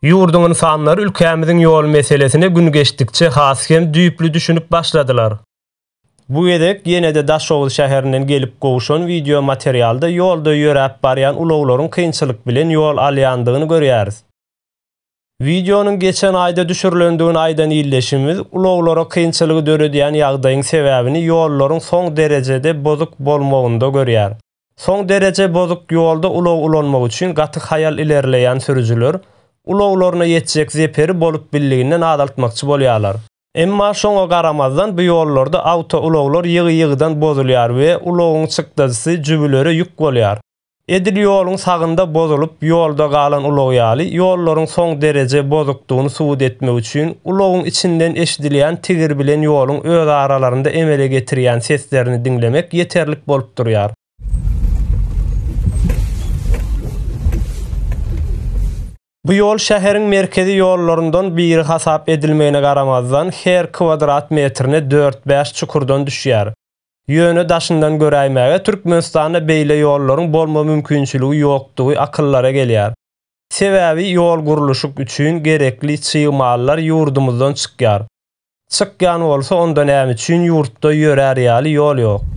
Ýurduň ynsanlary ülkämiziň ýol meselesine gün geçdikçe has hem düýpli düşünip başladylar. Bu gezek ýene-de Daşoguz şäherinden gelip gowşan wideo materialda ýolda ýöräp barýan ulaglaryň kynçylyk bilen ýol alýandygyny görýäris. Wideonyň geçen aýda düşürilendigini aýdan ildeşimiz, ulaglara kynçylygy döredýän ýagdaýyň sebäbini ýollaryň soň derejede bozuk bolmagynda görýär. Soň dereje bozuk ýolda ulag ulanmak üçin gaty haýal ilerleýän sürüjiler ulaglaryna ýetjek zeperi bolup billiginden azaltmakçy bolýarlar. Emma şoňa garamazdan bu ýollarda awtoulaglar ýygy-ýygydan bozulýar we ulagyň çykdajysy jübülere ýük bolýar. Edil ýoluň sagynda bozulyp ýolda galan ulag ýaly, ýollaryň soň dereje bozukdygyny subut etmek üçin ulagyň içinden eşidilýän tigir bilen ýoluň özaralarynda emele getirýän seslerini diňlemek ýeterlik bolup durýar. Bu ýol şäheriň merkezi ýollaryndan biri hasap edilmegine garamazdan, her kwadrat metrine dört-bäş çukurdan düşýär. Ýöne daşyndan göräýmäge Türkmenistanda beýle ýollaryň bolma mümkinçiligi ýokdugy akyllara gelýär. Sebäbi ýol gurluşyk üçin gerekli çig mallar ýurdumyzdan çykýar. Çykýan bolsa onda näme üçin ýurtda ýörär ýaly ýol ýok.